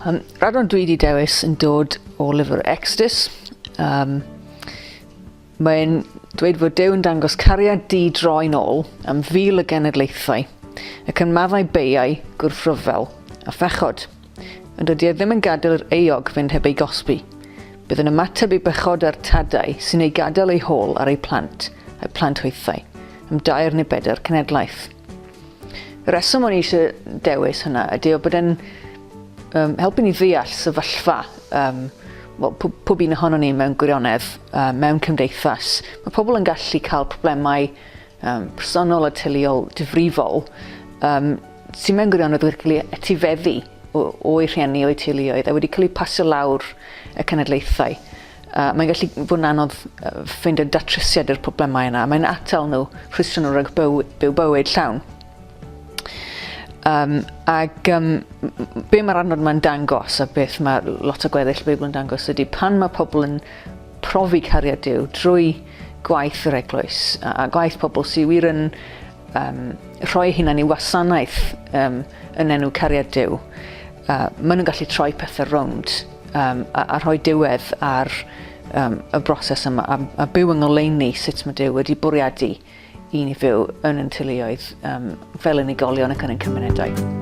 Um, radon dwi wedi dewis yn dod o lyfr Exodus. Um, Mae'n dweud fod Dew yn dangos cariad di droi'n ôl am fil y genedlaethau, ac yn maddau beiau gwrthryfel a phechod. Ond dydy e ddim yn gadael yr euog fynd heb ei gosbi. Bydd yn ymateb i bechodau'r tadau sy'n ei gadael ei hôl ar ei plant, a'i plant hwythau, am dair neu bedair cenedlaeth. Y reswm o'n i eisiau dewis hynna ydy o bod e'n um, helpu ni ddeall sefyllfa um, well, pob, pob un ohono ni mewn gwirionedd, uh, mewn cymdeithas. Mae pobl yn gallu cael problemau um, personol a teuluol difrifol um, sy'n mewn gwirionedd wedi cael ei etifeddu o'i rhieni, o'i teuluoedd, a wedi cael ei pasio lawr y cenedlaethau. Uh, mae'n gallu fod yn anodd ffeind y datrysiad i'r problemau yna. Mae'n atal nhw, rhwystro nhw rhag byw, byw bywyd llawn. Um, ac um, be mae'r adnod yma'n dangos a beth mae lot o gweddill y Beibl yn dangos ydy pan mae pobl yn profi cariad Dyw drwy gwaith yr eglwys a, a gwaith pobl sy'n wir yn um, rhoi hunan i wasanaeth um, yn enw cariad Dyw, uh, maen nhw'n gallu troi pethau rownd um, a, a rhoi diwedd ar um, y broses yma a, a byw yng ngoleini sut mae Dyw wedi bwriadu i ni fyw yn yn teuluoedd um, fel unigolion ac yn ein cymunedau.